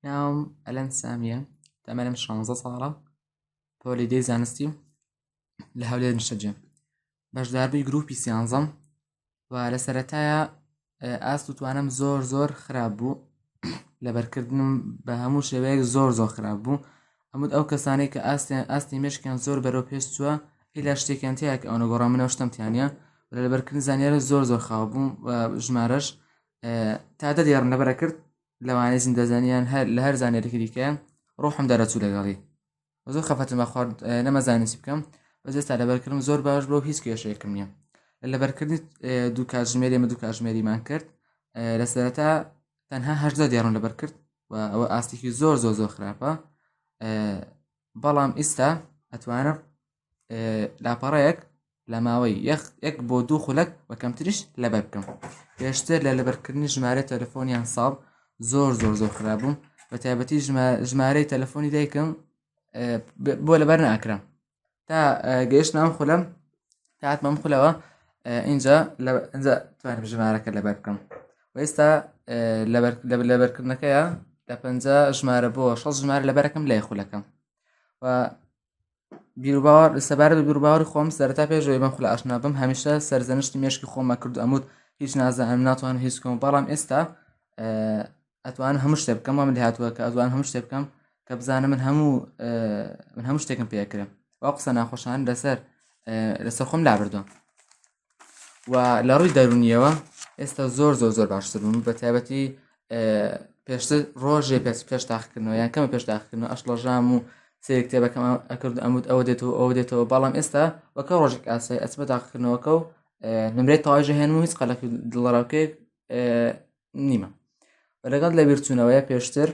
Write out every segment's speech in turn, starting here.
ناوم ئەلەند سامیە تەمەنم شانزە ساڵە پۆلی دەی زانستی و لە هەولێر نیشتەجێ بەشداربووی گروپی سیانزەم و لە سەتایە ئاست و توانم زۆر زۆر خراپ بوو لەبەرکردنم بە هەموو شێوەیەک زۆر زۆر خراپ بوو ئەمود ئەو کەسانەی کە ئاستیان ئاستی مشکیان زۆر بەرەو پێش چووە ئیلا شتێکیان تیاک ئەوە گۆڕامنەوە شتم تیانە لە لەبەرکردن زانیارە زۆر زۆر خاو بووم ژمارەش تا دە دێڕم لەبەرە کرد لەوانەی زیندەزانیان هەر لە هەر زانێرێکی دیکە ڕۆحم دەرەچوو لەگەڵی زۆر خەفەتم بە خوارد نەمەزانانی چی بکەم بەس ئێستا لەبەرکردم زۆر باش بۆ هیچ کێشەیەکم نییە لە لەبەرکردنی دوو کاتژمێری ئمە دوو کاتژمێریمان کرد لە سەرەتا تەنها هەشدە دێڕم لەبەر کرد و ئەوە ئاستێکی زۆر زۆر زۆر خراپە بەڵام ئیستا ئەتوانم لاپەڕەیەک لە ماوەی یەخ یەک بۆ دوو خولەک بە کەمتریش لەبەر بکەم پێشتر لە لەبەرکردنی ژمارە تەلەفۆنیان ساڵ زۆر زۆر زۆر خراپبووم بە تایبەتی ژمارەی تەلەفۆنی دایکم بۆ لەبەر ناکرم تا گەشت نام خولم تاتمەم خولەوە اینجا ئەجا توانم ژمارەکە لەبەر بکەم ئێستا لەبەرکردنەکەیە لە پ ژمارە بۆ شەست ژمار لەبەرەکەم لای خولەکەم و بیروباوەڕ سەبارەت بە بیروباوەڕی خۆم سەرەتا پێش ئەوەی بەم خولە ئاشنا بم هەمیشە سەرزەنشتی مێشکی خۆمە کرد ئەموت هیچ نازانم ناتوانم هیچ بکەم بەڵام ئێستا ئەتوانم هەموو شتێ بکەم وام لە هاتووە کە ئەتوان هەموو شتێ بکەم کە بزانم من هەموو من هەموو شتێکم پێکرم وا قسە ناخۆشان لەسەر لەسەر خۆم لابردوم و لە ڕووی دەرونیەوە ئێستا زۆر زۆر زۆر باشتر بوون بە تایبەتی پێشتر ڕۆژێ پێش پێش تاقکردنەوە یان کەمە پێش تاقکردن ئەشڵەژام و سێک کتێبەکەم ئەکرد ئەمود ئەوە دێتەوە ئەوە دێتەوە بەڵام ئێستا وەکە ڕۆژێک ئاسای ئەسمە تاقکردنەوەکە و نمرێت تاژە هێن و هیچ قەلەکی دڵڕاوکێک نیمە لەگەڵ لە بیرچوونەوەیە پێشتر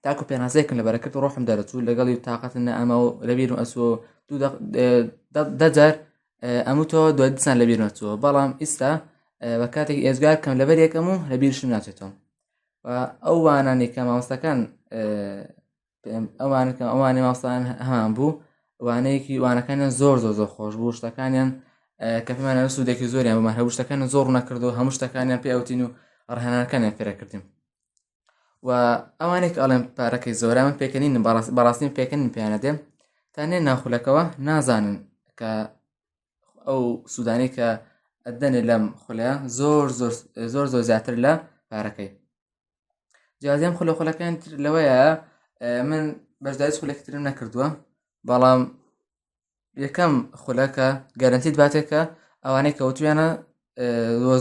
تاکو پێناسەیەکم لە بەرەکرد ڕۆحم دەرەچوو لەگەڵی و تااقەتن نەئەما و لەبیرم ئەسۆ دەجار ئەموتەوە دوای دیسان لەبیر نەچووە بەڵام ئیستا بە کاتێک ئێزگار کەم لەبەر یەکەم و لەبیرشم ناچێتەوە ئەو وانانی کە مامۆستەکان ئەوان کە ئەوانی ماستان هەمان بوو وانەیەکی وانەکانیان زۆر زۆر زۆر خۆش بوو شتەکانیان کە پێمانە سوودێکی زۆریان بمان هەبوو شتەکان زۆر نەکردو هەموو شتەکانیان پێوتین و ڕهانەکانیان پێرەکردیم و ئەوانێک ئەڵێن پارەکەی زۆرە من پێکەنین بەڕاستی پێکەنین پێیانە دێم تا نێ ناخولەکەەوە نازانن کە ئەو سوودانی کە ئەدەنێ لەم خولە زۆر زۆر زۆر زۆر زیاتر لە پارەکەی جیازیان خولە خولەکەیان تر لەوەیە من بەشداری خولەکترم نەکردووە بەڵام یەکەم خولەکە گەرنتی دواتێکە ئەوانەی کەوتویانە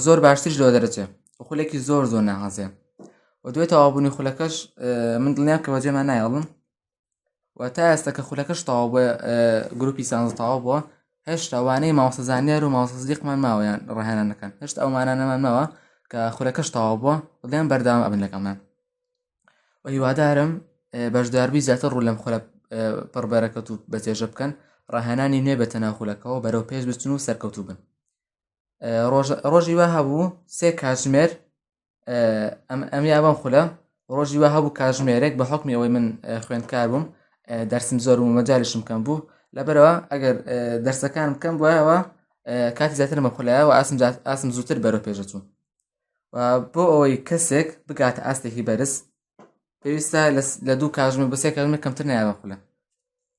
زۆر باشترش لەوە دەرەچێ خولێکی زۆر زۆر ناهازێ و دوێت تەوابوونی خولەکەش من دڵنیام کە بەجێمان نایڵم و تا ئێستا کە خولەکەش تەواو بە گروپی سانز تەواو بووە هێشتا وانەی ماوەسە زانیار و ماوەسەزیقمان ماوەیان ڕاهێنان دەکەن هێشتا ئەومانانەمان ماوە کە خولەکەش تەواو بووە بڵێن بەرداوام ئەبن لەگەڵمان و هیوادارم بەشداربی زیاتر ڕوو لەم خولە پڕبەرەکەت و بەجێژە بکەن ڕاهێنانی نوێ بە تەناخولەکەەوە بەرەو پێش بچن و سەرکەوتوو بن ڕۆژی وە هەبوو سێ کاتژمێر ئەم ئەم یابم خولە ڕۆژی وە هەبوو کاتژمێرێک بە حکمی ئەوەی من خوێندکار بووم دەرسم زۆر و مەجالشم کەم بوو لەبەرەوە ئەگەر دەرسەکان بکەم بۆیەوە کاتی زیاتر مەخلایەوە ئاسم ئاسم زووتر بەرە پێشەچوو بۆ ئەوەی کەسێک بگاتە ئاستێکی بەرز پێویستە لە دوو کاژمە بەسێ کەژمە کەمتر نایەوە خولە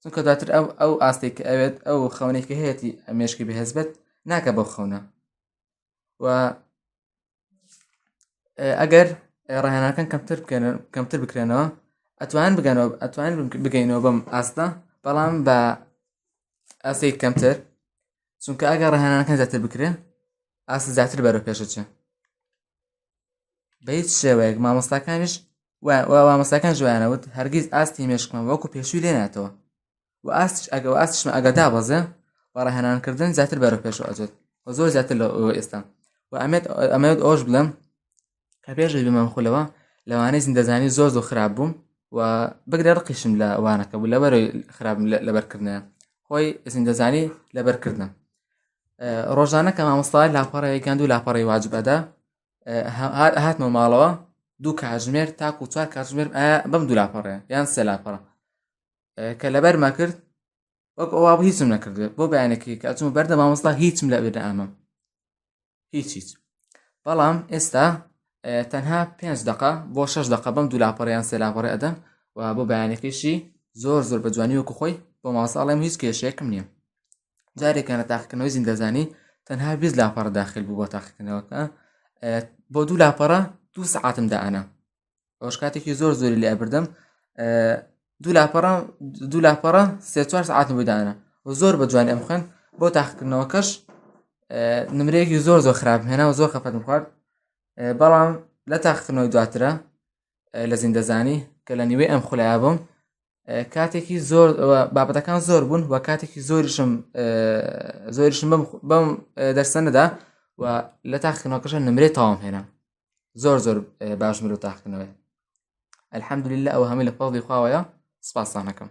چونکە دواتر ئەو ئەو ئاستێک ئەوێت ئەو خەونێکی هەیەی ئەمێشکی بەهێز بێت ناکە بەو خەونە و ئەگەر ڕاهێنەکان کەمتر بکەن کەمتر بکرێنەوە ئەتوان بگەنەوە ئەتوان بگەینەوە بەم ئاستە بەڵام بە ئاسی کەمتر چونکە ئەگە ڕەهانەکان زیاتر بکرێ ئاست زیاتر بەرە پێشەچێ بە هیچ شێوەیەک مامۆستاکانیش مامۆستاکان جویانەوت هەرگیز ئاستی مێشکمان وەکو پێشوی لێناتەوە و ئاستش ئەگە و ئاستشمە ئەگە دابەزێ بە ڕەهێنانکردن زیاتر بەرە پێشەوە ئەجێت و زۆر زیاتر لە ئێستا و ئەمێت ئەمەوێت ئەوش بڵێم کە پێش دەبی مام خولەوە لەوانەی زیندەزانی زۆر زۆر خراپ بووم و بگرە ڕقیشم لە وانەکە بوو لە بەرەوەی خراپم لەبەرکردە خۆی زیندەزانی لەبەرکردم ڕۆژانە کە مامۆستا لاپەڕەیەکیان دوو لاپەڕی واجب ئەدا هاتمە ماڵەوە دوو کاتژمێر تاکو چوار کاتژمێر بەم دوو لاپەڕێ یان سێ لاپەڕە کە لەبەرمە کرد وەک ئەوە بە هیچم نەکردێت بۆ بەیانەکەی کە ئەچمە بەردە مامۆستا هیچم لە بێدە ئەمە هیچ هیچ بەڵام ئێستا تەنها پێنج دقە بۆ شش دقە بەم دوو لاپەڕیان سێ لاپەڕێ ئەدەن و بۆ بەیانەکەیشی زۆر زۆر بە جوانی وەکو خۆی بۆ ماساڵێم هیچ کێشێکم نییە جارێکیان لە تاقیکردنەوەی زیندەزانی تەنها بیست لاپەڕ داخل بوو بۆ تاقیکردنەوەکە بۆ دوو لاپەڕە دوو سعاتم دانا ئەوش کاتێکی زۆر زۆری لای بردم دوو لاپەڕە دوو لاپەڕە سێ چوار سعاتم بدانە و زۆر بە جوانی ئەم خوێن بۆ تاقکردنەوەکەش نمرەیەکی زۆر زۆر خراپ هێنا و زۆر خەفەتم خوارد بەڵام لە تاقکردنەوەی دواترە لە زیندەزانی کە لە نیوەی ئەم خولای بووم کاتێکی زۆر بابەتەکان زۆر بوون و کاتێکی زۆریشم زۆریشم بەم دەرسەنەدا و لە تاخنەوەکەشە نمرێت تاوام هێنا زۆر زۆر باش مرۆ تاخنەوەی الحمد لله ئەو هەمی لە فەڵی خواوەیە سپاسانەکەم